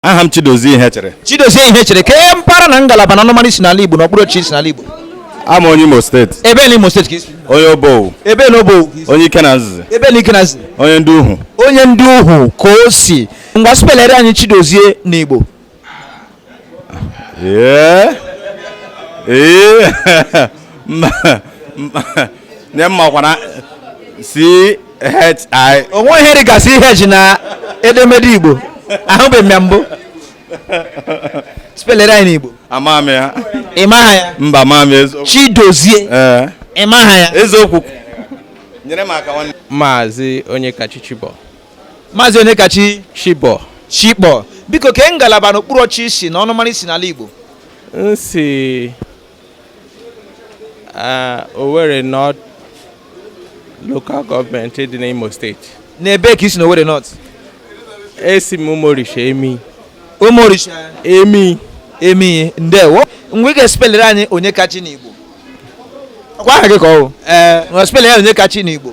aha m Chidozie Ihechere Chidozie Ihechere kee mpaghara na ngalaba na ọnụmara i si n'ala Igbo na okpuru ọchịchị i si n'ala Igbo abụ m onye Imo steeti ebe na Imo steeti ka i si onye Obowo ebe na Obowo onye Ikenanzizi ebe na Ikenanzizi onye Ndịuhu onye Ndịuhu ka o si ngwa spelere anyị Chidozie na Igbo ee ee nye mmakwana C H I. o nwe ihe dị ka C H na edemede igbo ahụbeghị m ya mbụ spelere anyị n'igbo Ama m ya. ị maha ya Mba ama m eziokwu. Chidozie Ee. ị maha ya Eziokwu. Nyere m aka nwanne. Maazị Onyekachi Chibọ Maazị Onyekachi Shibọ Shibọ biko kee ngalaba n'okpuru ọchịchị i si na ọnụmara i si n'ala Igbo m si Owerri North Local Government dị n'Imo steeti n'ebe ka i si na Owerri North esi m Umuorisha Emii Umuorisha Emii Emii ndewo ngwa ị ga-espelere anyị Onyekachi n'Igbo ọkwa aha gị ka ọ bụ ee ngwa spelere ya Onyekachi n'Igbo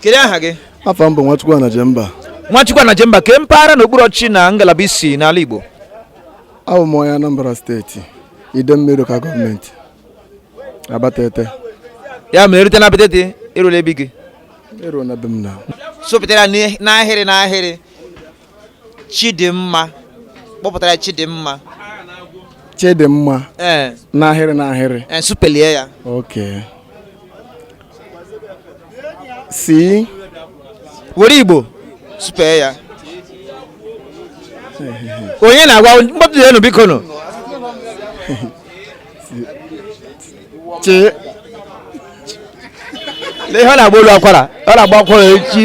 kedu aha gị afa m bụ Nwachukwu Anajemba Nwachukwu Anajemba kee mpaghara na okpuru ọchịchị na ngalaba i si n'ala Igbo abụ m onye Anambra steeti Idemili Local Government Abatete ya mere e rute na Abatete e rula ebe gị e ru na be m na sụpụtara n'ahịrị n'ahịrị Chidimma kpọpụtara ya Chidimma Chidimma ee n'ahịrị n'ahịrị ee supelie ya okay C were Igbo supee ya onye na-agwa mkpọtụ ya nụ biko nụ chi na ihe ọ na-agba olu akwara ọ na-agba akwara echi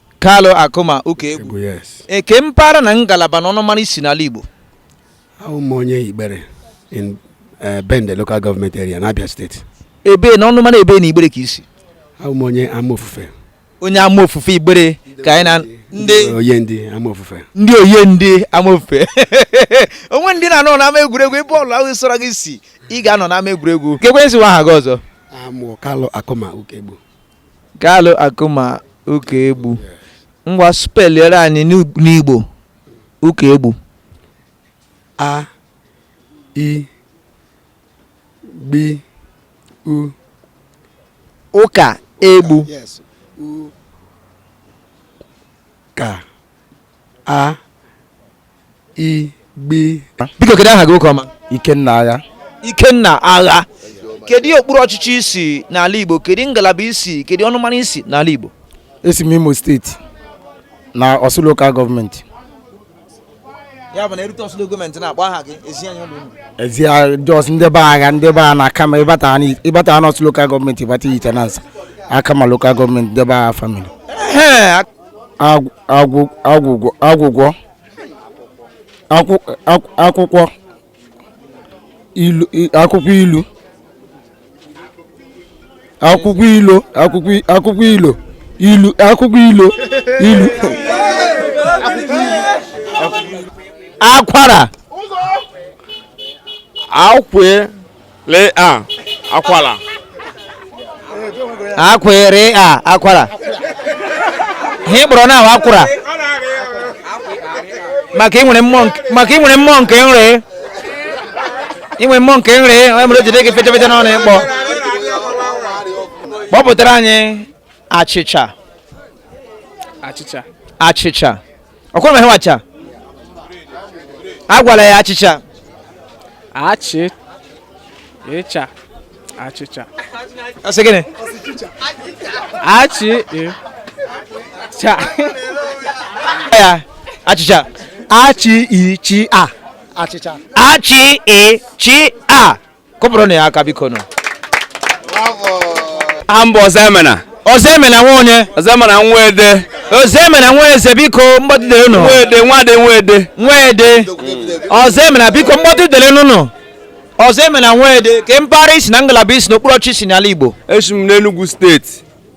Kalu Akuma Ukaegbu kee mpaghara na ngalaba na ọnụmara i si n'ala Igbo awụ m onye Igbere in eh, Bende local government area na Abia steeti ebe na ọnụmara ebe na Igbere ka i si awụ m onye Amaofufe onye Amaofufe Igbere ka anyị na ndị Oye ndị Amaofufe ndị Oye ndị Amaofufe o nwere ndị na-anọ n'ama egwuregwu ebe ọbụla sọrọ gị si ị ga-anọ n'ama egwuregwu keekwa ihe ị sị wụ aha gị ọzọ aha m wụ Kalu Akuma Ukaegbu Kalu Akuma Ukaegbu ngwa speliere anyị n'Igbo Ukaegbu a i gbi u Ukaegbu ka a igbi biko kedu aha gị nwoke ọma ikenna agha ikenna agha kedu okpuru ọchịchị i si n'ala igbo kedu ngalaba i si kedu ọnụmara i si n'ala igbo esi m imo steeti na ọsụ lokal gọọmenti ya bụ na e rute ọsụ gọọmenti na-akpọ aha gị ezi na ụlọ unu ezi jos ndị be agha ndị be a n'akama ị bata ha n'ọsụ lokal gọọmenti ị bata ihitenansa akama lokal gọọmenti ndị be agha famili agwụgwọ agwụgwọ akwụkwọ ilu akwụkwọ ilu akwụkwọ ilo akwụkwọ ilo ilu akwụkwọ ilo ilu akwara akwe Lee a akwara. Akwere a akwara. Ihe kpọrọ na akwara. Maka i nwere mmụọ nke maka i nwere mmụọ nke nri. I nwere mmụọ nke nri, onye mere o jide gị fetefete n'ọnụ ịkpọ. Kpọpụtara anyị achịcha. Achịcha. Achịcha. ọkwụrụ m ihe wacha agwala ya achịcha achị ịcha achịcha ọ sị gịnị achị ịcha ya achịcha achị ichi a achịcha achị ichi a kụpụrụ nụ ya aka biko nụ aha m bụ ọzọemena ọzọemena nwa onye ọzọemena nwede ọzọemena nweze biko mgbọdụdere nụ nwede nwede nwede nwede ọzọemena biko mgbọdụdere nụ nụ ọzọemena nwede kee mpaghara i si na ngalaba i si na okpuru ọchịchị i si n'ala igbo esi m n'enugwu steeti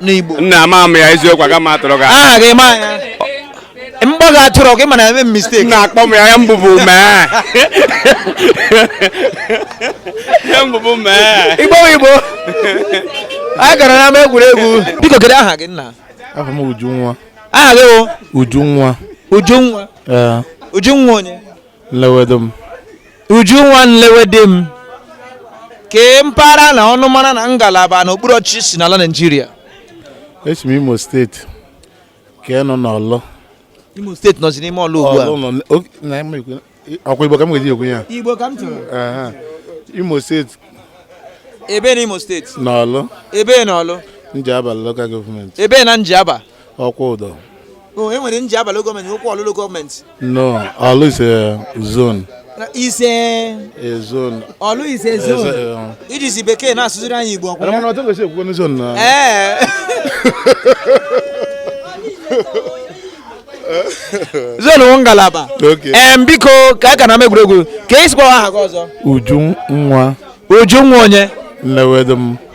n'Igbo nna ama m ya eziokwu aga m atụrụ gị aha gị ma ya mgbọ gị atụrụ gị mana eme mistake na-akpọ m ya ya mbụbụ mee ya mbụbụ mee igbo igbo anyị gara n'ama egwuregwu biko kedu aha gị nna aha m Ujunwa aha gị wụ Ujunwa Ujunwa Ujunwa onye nlewedim ujunwa nlewedim kee mpaghara na ọnụmara na ngalaba na okpuru ọchịchị i si n'ala naijiria esi m imo steeti ka ị nọ n'ọlụ imo steeti nọzi n'ime ọlụ ugbu a Ọlụ nọ n- o- na m ekwu- ọ kwa igbo ka m ga-eji ekwu ya igbo ka m chọrọ Aha. imo steeti ebee na imo steeti n'ọlụ ebee na ọlụ njaba lokal gọọmenti ebee na njaba Okwudọ o e nwere Njaba lokal gọọmenti nwekwa Ọlụ lokal gọọmenti no ọlụ is a zone is a a zone ọlụ is a zone eh, i jizi bekee na-asụziri anyị igbo ọ kwa ya mana, otu kwesịrị ekwukwe zone na. ee zone wụ ngalaba Okay. em biko ka a ka na-eme egwuregwu kee ị sịkwa aha gị ọzọ Ujunwa Ujunwa onye Nnewedum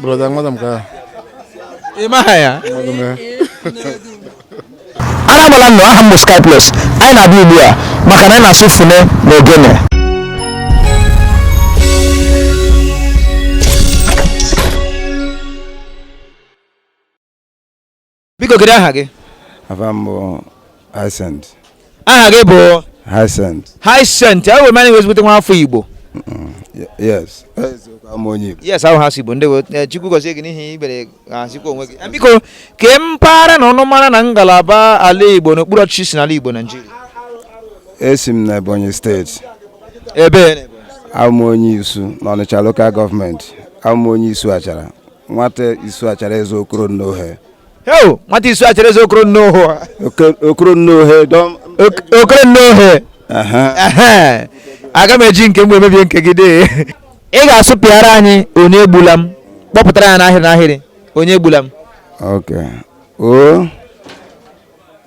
brọda nwada m ka ị maha ya anamala nnọọ aha m bụ Sky Plus anyị na-abịa ugbu a maka na anyị na-asụ fune na ogene biko kedu aha gị afa m bụ Hyacinth aha gị bụ Hyacinth Hyacinth ewo mana ị wụ ezigbote nwa afọ Igbo yes eziokwu abụ m onye Igbo yes ahụ ha si Igbo ndewo, Chukwu gọzie gị n'ihi ibere azikwa onwe gị eh, biko kee mpaghara na ọnụmara na ngalaba ala Igbo n'okpuru ọchịchị i si n'ala Igbo Naijiria esi m na Ebonyi steeti ebe abụ m onye Isu n'Ọnịcha lokal gọọmenti abụ m onye Isu Achara nwata isu achara eze okoro nnohe heo nwata isu achara eze okoro nnohe okoro nnohe okoro nnohe aga m eji nke m wee mebie nke gị dee ị ga-asụpịara anyị onye egbula m kpọpụtara ya n'ahịrị n'ahịrị onye egbula m o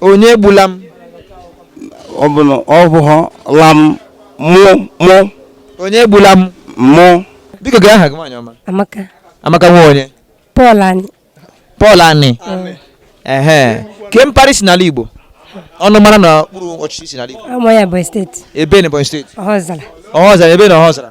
onye egbula m ọ bụ na ọ bụghọ la m mụ mụ onye egbula m mụ biko kee aha gị nwaanyị ọma Amaka. amaka nwa onye Paul Ani. Paul Ani ehe kee mpaghara i si n'ala igbo ọnụmara na okpuru ọchịchị i si n'ala igbo Awụ m onye Ebonyi steeti. ebe na ebonyi steeti Ọhọzara. ọhọzara ebe na ọhọzara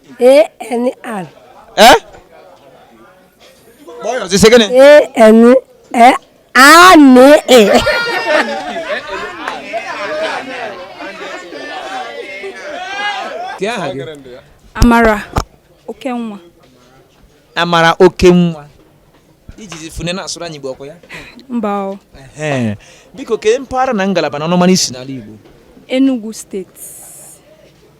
ANR. Eh? Boy, you say again. ANR. Amara Okenwa. Amara Okenwa. I jizi fune na-asụrụ anyị Igbo ọ kwa ya? Mba o. Biko kee mpaghara na ngalaba na ọnụmara i si n'ala Igbo. Enugu steeti.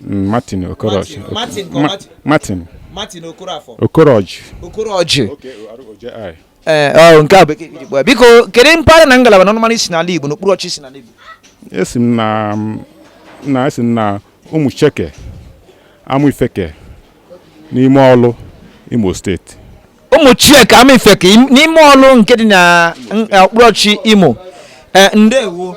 Mm, Martin Okoroji. Martin- Martin ka ọ Ma- Martin? Martin martin okoroafọ Okoroji. okoroji O-K-O-R-O-J-I. ee ọ, nke a bekee ka i ji kpọọ ya. biko kedu mpaghara na ngalaba na ọnụmara i si n'ala igbo n'okpuru ọchịchị i si n'ala igbo Esi m na na esi m na Ụmụcheke Amaifeke n'ime ọlụ Imo steeti. Ụmụcheke Amaifeke im- n'ime ọlụ nke dị na n- okpuru ọchịchị Imo ee ndewo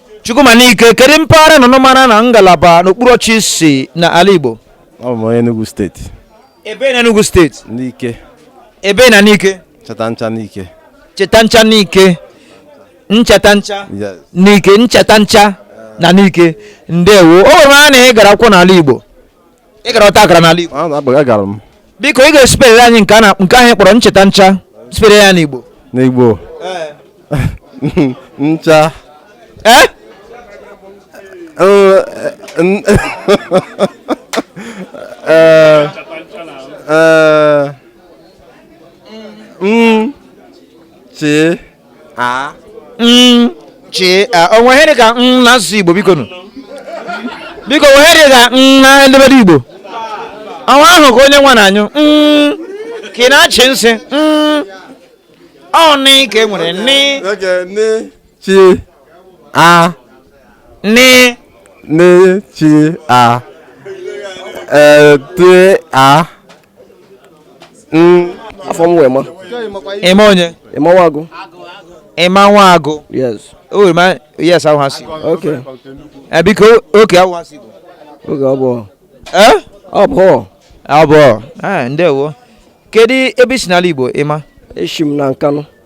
Chukwuma Nike kedu mpaghara na ọnụmara na ngalaba n'okpuru ọchịchị i si na ala Igbo ọ bụ onye Enugu steeti ebee na Enugu steeti Nike ebee na Nike Nchetancha Nike Nchetancha Nike Nchetancha yes Nike Nchetancha na Nike ndewo o were m anya na ị gara akwụkwọ n'ala Igbo ị gara ọta akara n'ala Igbo agara m biko ị ga-asụpere anyị nke ahụ ị kpọrọ Nchetancha sụpere ya n'Igbo n'igbo ncha ee Eh, n- eh, eh, mm, chi a m chi a o nwere ihe dị ka m na asụsụ igbo biko nụ biko o nwere ihe dị ka m na edemede igbo ọnwa ahụ ka onye nwa na-anyụ m ka ị na-achị nsị m ọ nị ka e nwere nị okay nị chi a nị nị chi a ee te a Mm, afa m wụ Emma Emma onye Emma Nwagụ Emma Nwagụ yes o were ma yes ahụ ha si ok Eh, biko oke ahụ ha si bụ oge ọ bụ Eh? ọ bụ abụọ Eh, ndewo kedu ebe i si n'ala Igbo Emma eshi m na Nkanụ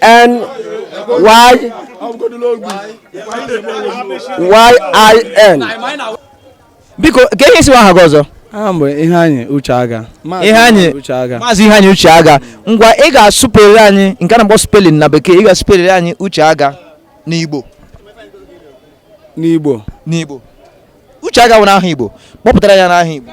N Y Y I N. biko ka ihe ị sị wụ aha gị ọzọ aha m bụ Iheanyị Ucheaga Iheanyị Ucheaga maazị Iheanyị Ucheaga ngwa ị ga-asụpere anyị nke a na-akpọ spelling na bekee ị ga-asụpere anyị Ucheaga n'igbo n'igbo n'igbo Ucheaga wụnụ aha igbo kpọpụtara anyị ya n'aha igbo